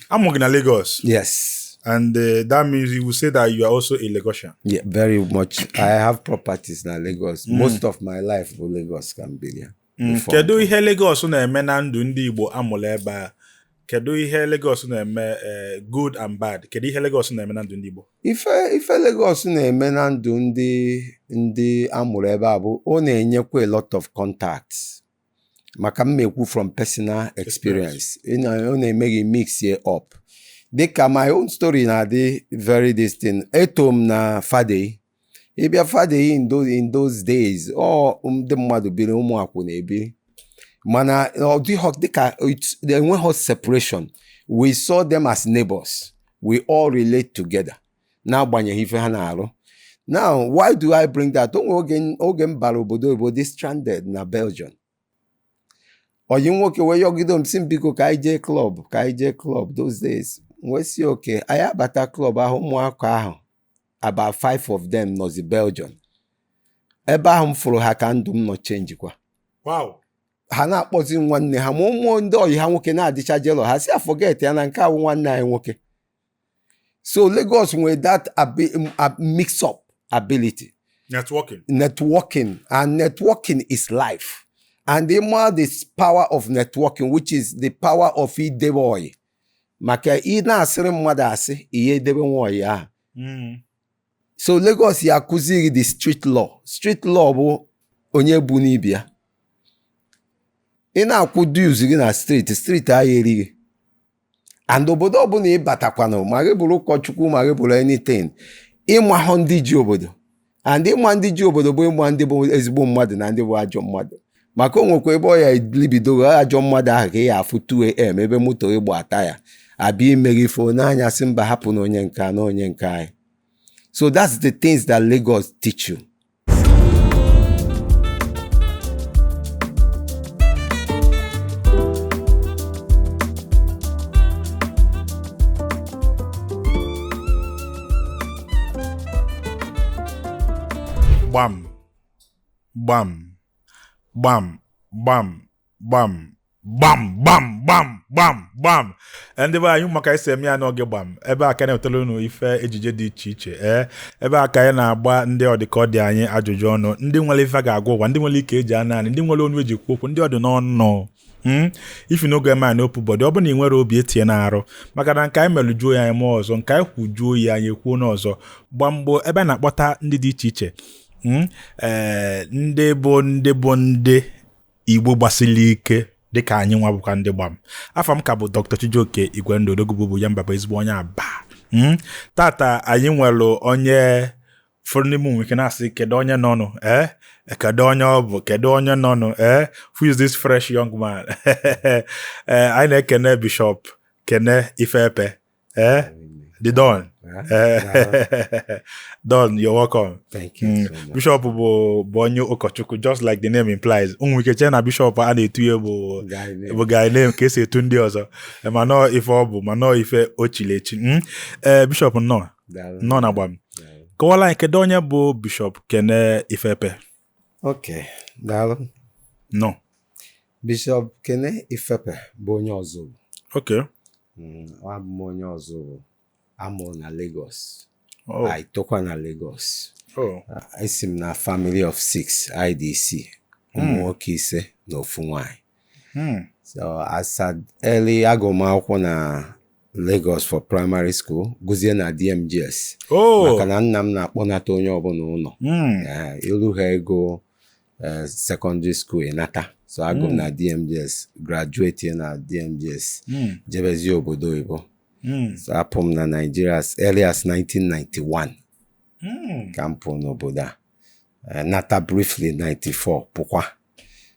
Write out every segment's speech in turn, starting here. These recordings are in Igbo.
A mụrụ gị na Lagos. Yes. And uh, that means you will say that you are also a Lagosian. Yeah, very much. I have properties na Lagos. Mm. Most of my life bụ Lagos ka m biri. Mm. Kedu ihe Lagos na-eme na ndụ ndị Igbo amụrụ ebe a? Kedu ihe Lagos na-eme eh, good and bad? Kedu ihe Lagos na-eme na ndụ ndị Igbo? Ife ife Lagos na-eme na ndụ ndị ndị amụrụ ebe a bụ ọ na-enyekwa a lot of contacts. maka m na-ekwu from personal experience Ị na- ọ na-eme gị mixie up dịka my own story na-adị very distinct eto m na Fadeyi ị bịa Fadeyi in those, in those days ọ ndị mmadụ biri ụmụ akwụna ebiri mana ọ dịghọ dịka it- enweghọ separation we saw them as neighbors we all relate together n'agbanyeghị ife ha na-arụ now why do I bring that o nwere oge oge m bara obodo oyibo dị stranded na Belgium ọyị m nwoke wee yọgide m sị m biko ka anyị jee club ka anyị jee club those days m wee sị okay anyị abata club ahụ ụmụaka ahụ about five of them nọzi Belgium ebe ahụ m fụrụ ha ka ndụ m nọ changekwa wow ha na-akpọzi nwanne ha ma ụmụ ndị ọyị ha nwoke na-adịcha jealous ha sị forget ya na nke a wụ nwanne anyị nwoke so Lagos nwere that um, uh, mix up ability networking networking and networking is life and the more this power of networking which is the power of idebe ọyị maka ị na-asịrị mmadụ asị ị ya-edebenwu ọyị ahụ hmm. so Lagos ya akụziri gị the street law street law bụ onye ọbụna bịa ị na-akwụ dues gị na street street ahụ eri gị and obodo ọbụla ị batakwanụ ma gị bụrụ ụkọchukwu ma gị bụrụ anything ị mahụ ndị ji obodo and ịma ndị ji obodo bụ ịma ndị bụ ezigbo mmadụ na ndị bụ ajọ mmadụ maka o nwekwa ebe ọ ya libidogo ajọ mmadụ ahụ ka ị ya afụ 2am ebe moto gị gbaa taya abịa ime gị ife n'anyasị mba hapụ na onye nke na onye nke anyị so that's the things that Lagos teach you gbam gbam gbam gbam gbam gbam gbam gbam gbam gbam Eh, ndị be anyị ị ma ka esi eme ya n'oge gbam ebe a ka a na-ewetara unu ife ejije dị iche iche ee ebe a ka anyị na-agba ndị ọdịkọdị anyị ajụjụ ọnụ ndị nwere ife a ga-agwa ụwa ndị nwere ike eji anọ anị ndị nwere ọnụ eji ekwu okwu ndị ọ dị n'ọnụ Hmm? if you no get mind no put body ọ bụ na ị nwerọ obi etinyena arụ maka na nke anyị melujuo ya anyị mee ọzọ nke anyị kwujuo ya anyị kwuo n'ọzọ Gbam bụ ebe a na-akpọta ndị dị iche iche hmm? eh, ndị bụ ndị bụ ndị igbo gbasili ike dịka anyị nwa bụkwa ndị gbam afa m ka bụ Dr. Chijioke Igwendu Odogwu bụ ya mbaba ezigbo onye aba hmm? tata anyị nwere onye ụfọdụ n'ime unu nwe ike na-asị kedu onye nọnụ ee eh? eh, kedu onye ọ bụ kedu onye nọnụ ee eh? who is this fresh young man ee anyị na-ekene bishọp kene ifepe ee the don don you're welcome thank you mm. bishọp bụ bụ onye ụkọchukwu just like the name implies unu nwe ike chee na bishọp a na-etu ya bụ bụ guy name ka esi etu ndị ọzọ mana ọ ife ọ bụ mana ọ ife o chiri echi ee hmm? bishọp nnọọ nnọọ na Gbam kọwala anyị kedu onye bụ bishọp kene ifepe ok daalụ nọ bishọp kene ifepe bụ onye Ozubulu ok mm, abụ m onye Ozubulu a mụrụ na Lagos oh. anyị tokwa na Lagos oh. esi m na family of six anyị dị isii ụmụ hmm. nwoke ise na ofu nwanyị Hmm. So as at early agụ m akwụkwọ na Lagos for primary school gụzie na DMGS Oh. maka na nna m na-akpọnata onye ọbụna ụnọ Hmm. Eh, i luhago eh, secondary school ị nata so agụ m Mm. na DMGS graduate na DMGS Hmm. jebezie obodo oyibo Hmm. so apụ m na Nigeria as early as 1991 Hmm. ka m pụọ n'obodo a Eh, nata briefly 94 pụkwa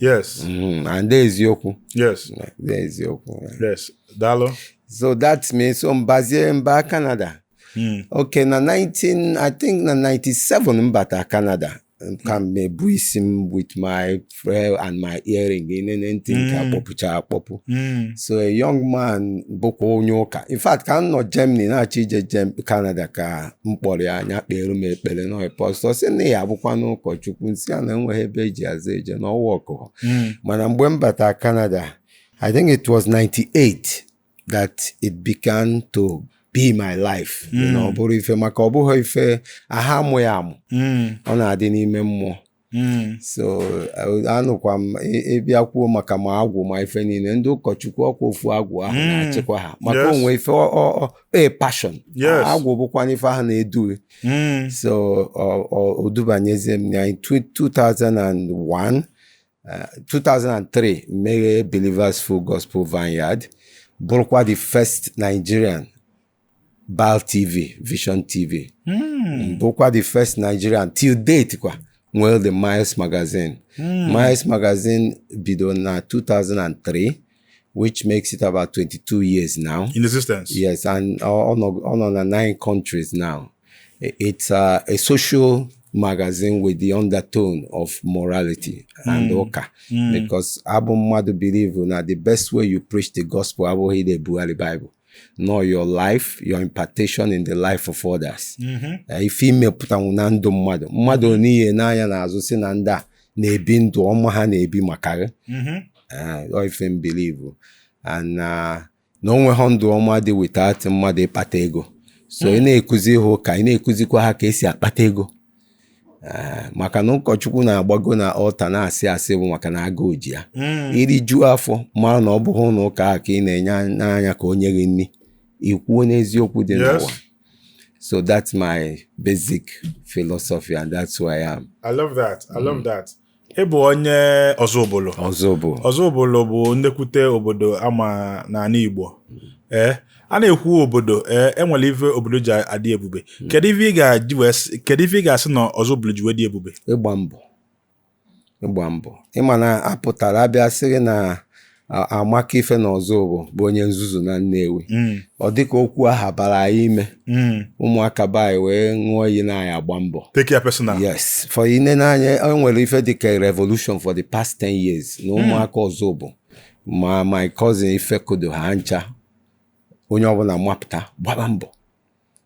yes Mm, and dị eziokwu yes dị eziokwu yes daalụ so that means so m bazie mba Canada Mm, okay na 19 I think na 97 m bata Canada ka m na-ebu isi m with my friend and my earring i nene ntị nke Mm. a kpọpucha akpọpu mm, so a young man bụkwa onye ụka in fact ka m nọ Germany na-achọ ije Gem- Canada ka m kpọrọ ya nya kpeere m ekpere na pastọ sị na ị ya-abụkwanụ ụkọchukwu m sị ya na enweghị ebe e ji azụ eje na ọ wụ akụkọ Mm. mana mgbe m bata Canada I think it was 98 that it began to be my life Mm. na ọ bụrụ ife maka ọ bụghị ife a na-amụ ya amụ Mm. ọ na-adị n'ime mmụọ hmm. so anụkwa m ị bịa kwuo maka ma agwụ ma ife niile ndị ụkọchukwu ọ kwa ofu agwụ ahụ hmm. na-achịkwa ha maka o nwe ife e passion agwụ bụkwa ife ahụ na-edu hmm. so o dubanyezie m na 2001 2003 meghe Believers Full Gospel Vineyard bụrụkwa the first Nigerian Bal TV, Vision TV. Mm. Bụkwa the first Nigerian till date kwa nwere the Miles magazine. Mm. Miles magazine bido na 2003 which makes it about 22 years now. In existence. Yes, and on on on nine countries now. It's uh, a social magazine with the undertone of morality and mm. oka mm. because abụ mmadụ believe na the best way you preach the gospel abụghị na-ebugharị Bible nọ your life your impartation in the life of others mm-hmm. eh, ife i mepụtanwu na ndụ mmadụ mmadụ nene anya n'azụ sị na ndị a na-ebi ndụ ọma ha na-ebi maka gị mm-hmm. eh, ife m believe na o nwehọ ndụ ọma dị without mmadụ ịkpata ego so ị mm. na-ekuzi ha ụka ị na-ekuzikwa ha ka e si akpata ego Ee, maka na ụkọchukwu na-agbago na altar na-asị asị bụ maka na agụụ ji ya Mm. i rijuo afọ mara na ọ bụghị ụlọ ụka ahụ ka ị na-enene anya ka o nye gị nri i kwuo n'eziokwu dị Yes. n'ụwa so that's my basic philosophy and that's who I am I love that. I love that. Ị bụ onye Ọzụbụlụ. Ọzụbụlụ. Ọzụbụlụ bụ nnekwute obodo a ma n'ala Igbo. Ee, eh, a na-ekwu obodo ee eh, e nwere ife obodo ji adị ebube. Hmm. Kedu ife ị ga-asị na Ọzụbụlụ ji wee dị ebube? Ịgba mbọ. Ịgba mbọ. Ị ma na a pụtara a bịa sị na amaka ife na Ọzụbụ bụ onye nzuzu na Nnewi mm. ọ dịka okwu aha bara anyị ime mm. ụmụaka be anyị wee ṅụọ iyi na anyị agba mbọ take ya personal yes for i nene anya e nwere ife dịka revolution for the past 10 years na mm. ụmụaka Ọzụbụ ma my cousin Ifekodo ha ncha onye ọbụla mapụta gbaba mbọ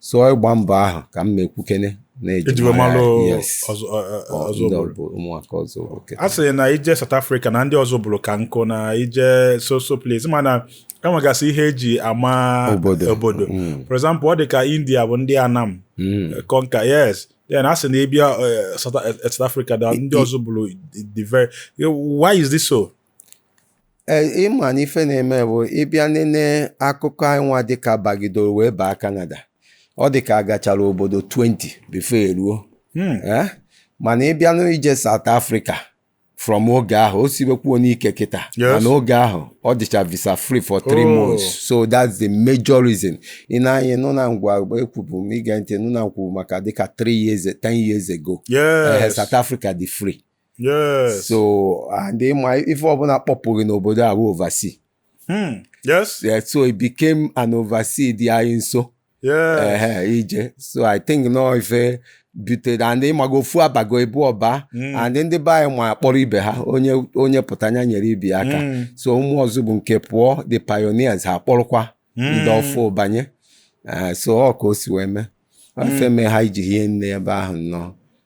so ịgba mbọ ahụ ka m na-ekwukene e ji wee malụ Ọzụbụlụ a sị na i je South Africa na ndị Ọzụbụlụ ka nkụ na i je so so place mana e nwegasị ihe e ji ama obodo mm. for example ọ dị ka India bụ ndị Anam mm. eh, conquer yes then a sị na ị bịa eh, eh, South Africa na ndị Ọzụbụlụ the very why is this so Ee, ị ma na ife na-eme bụ ị bịa nene akụkọ anyịnwa dịka bagidoro wee baa Canada ọ dịka a gachara obodo 20 before e ruo hmm. eh? mana ị bịa n'ije South Africa from oge ahụ o sibekwuonụ ike kịta mana oge ahụ ọ dịcha visa free for three oh. months so that's the major reason ị na-anya nụ na ngwa ekwubu m i gee ntị nụ na m kwubu maka dịka three years ten years ago yes. Eh, South Africa dị free yes so and ị ma ife ọbụla kpọpụrụ n'obodo a bụ oversea Hmm. yes Yeah, so it became an oversea dị anyị nso yes ehe ije so i think nọ ife butere and ị mago ofu abago abụọ aba Mm. and ndị be anyị ma akpọrọ ibe ha onye onye pụta nya nyere ibe ya aka Mm. so ụmụ Ọzụbụ nke pụọ the pioneers ha kpọrọkwa ndị Mm. ọfụ banye Eh, so ọ ka o si wee mee ife mee ha ji hie nne ebe ahụ nnọọ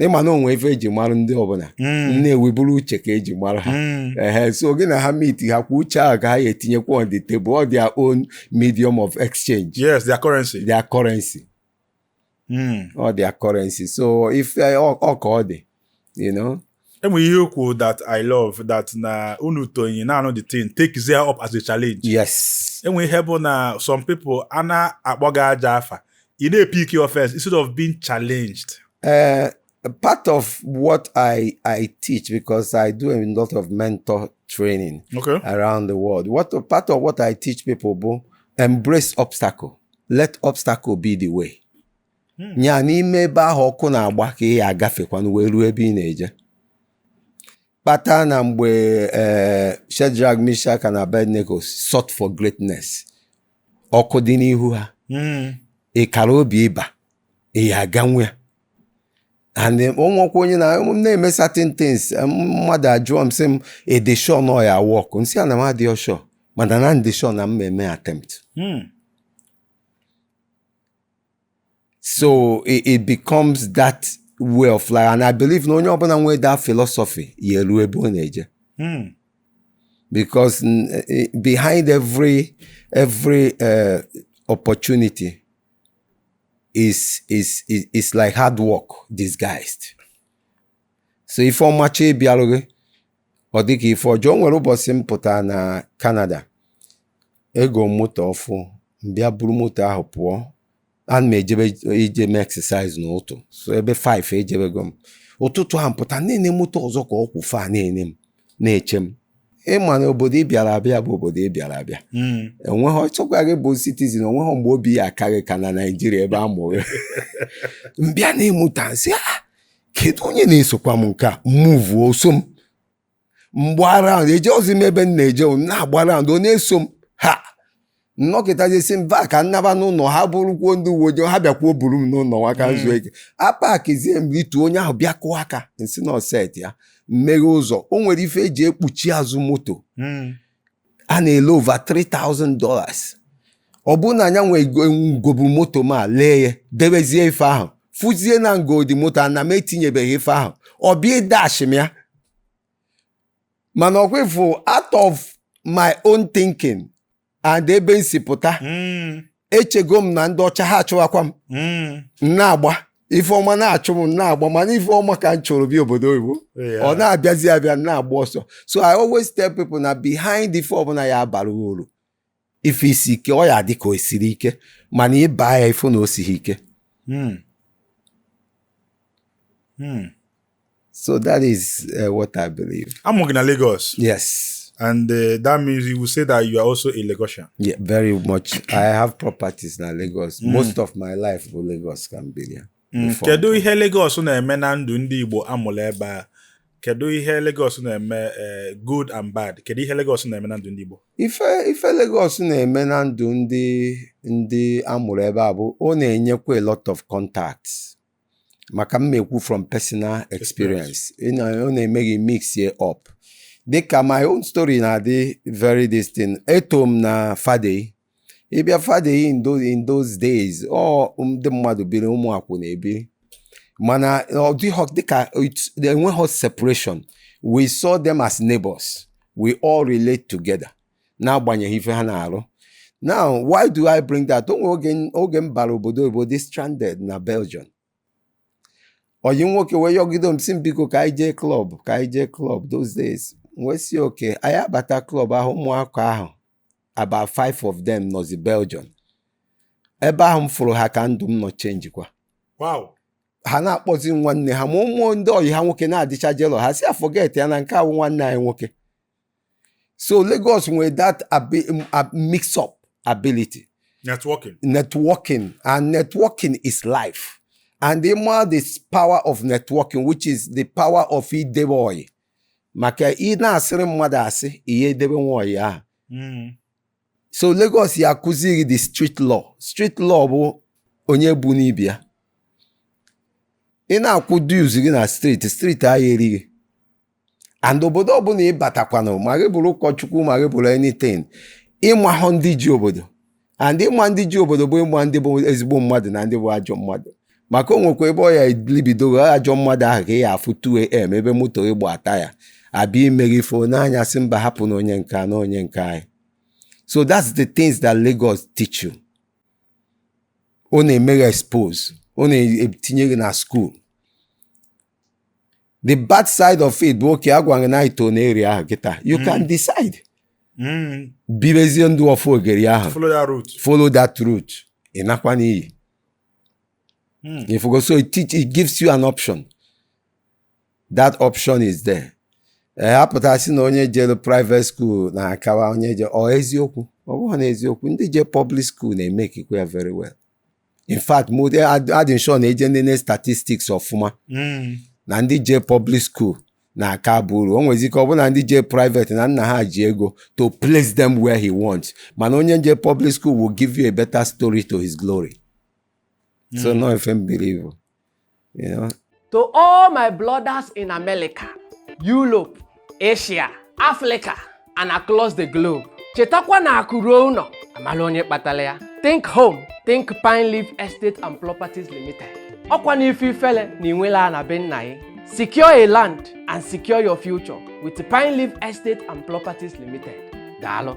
ị ma na o nwe ife e ji mara ndị ọbụla Nnewi bụrụ uche ka e ji mara ha ehe so gị na ha meet ha kwa uche ahụ ka ha ya-etinyekwa on the table ọ their own medium of exchange yes their currency their currency ọ their currency so ife ọ ka ọ dị you know enwere ihe okwu that i love that na unu tonyi na anụ the thing take there up as a challenge yes enwere ihe bụ na some people a na-akpọ gị aja afa ị na-epik offense instead of being challenged uh, part of what I, I teach because I do a lot of mentor training okay. around the world. What part of what I teach people, boo, embrace obstacle. Let obstacle be the way. hmm. nya n'ime ebe ahụ ọkụ na-agba ka ị ya agafekwanụ wee ruo ebe ị na-eje kpata na mgbe eh, Shadrach Meshach na Abednego sought for greatness ọkụ dị n'ihu ha hmm. ị kara obi ịba ị ya aga nwa ya and o nwekwa onye na-eme certain things mmadụ ajụọ m sị m ị dị sure na ọ ya work m sị ya na m adịghị sure mana na m dị sure na m eme attempt hmm. so it, it becomes that way of life and i believe na onye ọbụla nwee that philosophy ya eru ebe ọ na-eje hmm. because eh, eh, behind every every uh, opportunity is is is is like hard work disguised so ife ọma chọọ ịbịarụ gị ọ dịka ife ọjọọ o nwere ụbọchị m pụtara na Canada egoo m moto ọfụụ m bịa buru moto ahụ pụọ ana m ejebe ije mee exercise n'ụtụtụ so ebe 5 ejebego m ụtụtụ ahụ m pụta na-ene moto ọzọ ka ọ kwụ fa na-ene m na-eche m ị ma na obodo ị bịara abịa bụ obodo ị bịara abịa enweghị ọ chọkwa gị bụ citizen o nweghị mgbe obi ya aka gị ka na Nigeria ebe a mụrụ m bịa nee moto m sị kedu onye na-esokwa m nke a m move o so m m gbaa round ejeghizi m ebe m na-eje m na-agba round ọ na-eso m ha m nọkịtazie sị mba ka m naba n'ụlọ ha bụrụkwuo ndị uwe ojii ha bịakwuo buru m n'ụlọ nwa ka m zuo ike apakizie m rituo onye ahụ bịa kụọ aka m sị na ọ set ya m meghee ụzọ o nwere ife eji ekpuchi azụ moto a na-ele over 3000 dollars ọ bụrụ na nya nwa gobu moto ma lee ya debezie ife ahụ fụzie na m godi moto a na m etinyebeghị ife ahụ ọ bịa dash m ya mana ọkwa ịfụ out of my own thinking and ebe m si pụta echego m na ndị ọcha ha achụwakwa m m na-agba ife ọma na-achụ m m na-agba mana ife ọma ka m chọrọ bịa obodo oyibo Yeah. ọ na-abịazi abịa m na-agba ọsọ so i always tell people na behind ife ọbụla ya abara uru ife isi ike ọ ya dị ka o siri ike mana ị baa ya ị fụ na o sighi ike Hmm. Hmm. So that is uh, what I believe. Amụrụ gị na Lagos. Yes. And uh, that means you will say that you are also a Lagosian. Yeah, very much. I have properties na Lagos. Mm. Most of my life bụ Lagos ka m biri. Mm. Kedu ihe Lagos na-eme na ndụ ndị Igbo amụrụ ebe a? Kedu ihe Lagos na-eme eh, good and bad? Kedu ihe Lagos na-eme na ndụ ndị Igbo? Ife ife Lagos na-eme na ndụ ndị ndị amụrụ ebe a bụ ọ na-enyekwa a lot of contacts. maka m na-ekwu from personal experience Ị na- ọ na-eme gị mix ye up dịka my own story na-adị very distinct eto m na Fadeyi ị bịa Fadeyi in those, in those days ọ ndị mmadụ biri ụmụ akwụna ebiri mana ọ dịghọ dịka it- enweghọ separation we saw them as neighbors we all relate together n'agbanyeghị ife ha na-arụ now why do I bring that o nwere oge oge m bara obodo oyibo dị stranded na Belgium ọyị nwoke wee yọgide m sị m biko ka anyị jee club ka anyị jee club those days m wee sị okay anyị abata club ahụ ụmụaka ahụ about five of them nọzi Belgium ebe ahụ m fụrụ ha ka ndụ m nọ chenjikwa wow ha na-akpọzi nwanne ha ma ụmụ ndị ọyị ha nwoke na-adịcha jealous ha sị ya forget ya na nke a wụ nwanne anyị nwoke so Lagos nwere that mix up ability networking networking and networking is life and ịma the power of networking which is the power of idebe ọyị maka ị na-asịrị mmadụ asị ị ya-edebenwu ọyị ahụ hmm. so Lagos ya-akụziri gị the street law street law bụ onye ọbụna ị bụ ị ya na-akwụ dues gị na street street ahụ erie gị and obodo ọbụla ị batakwanụ ma gị bụrụ ụkọchukwu ma gị bụrụ anything ị mahụ ndị ji obodo and ịma ndị ji obodo bụ ịma ndị bụ ezigbo mmadụ na ndị bụ ajọ mmadụ maka o nwekwa ebe ọ ya libidogo ajọ mmadụ ahụ ka ị ya afụ 2am ebe moto gị gbaa taya abịa meere gị ịfụnanya sị mba hapụ na onye nke na onye nke anyị so that's the things that Lagos teach you ọ na-eme gị expose ọ na-etinye gị na school the bad side of it bụ okay agwa gị na i to na area ahụ kịta you mm. can decide mm. bibezie ndụ of ogeri ahụ follow that route ị nakwa n'iyi Mm. Ị fụgo, so it, teach, it gives you an option. That option is there. Eh, apụta sị na onye jere private school na-akawa onye je ọ eziokwu ọ bụghị na eziokwu ndị je public school na-emekikwa ya very well in fact adị m sure na e jee nene statistics ọfụma hmm. na ndị je public school na-aka aba uru o nwezi ike ọ bụ na ndị je private na nna ha ji ego to place them where he wants mana onye je public school will give you a better story to his glory so na ọ ife m believe you know To all my brothers in America, Europe, Asia, Africa, and across the globe. Chetakwa na akụ ruo ụnọ amala onye kpatalị ya. Think Home, Think Pineleaf Estate and Properties Limited. Ọkwanụ ife ifele na i nwerọ ana be nna gị. Secure a land and secure your future with Pineleaf Estate and Properties Limited. Daalụ.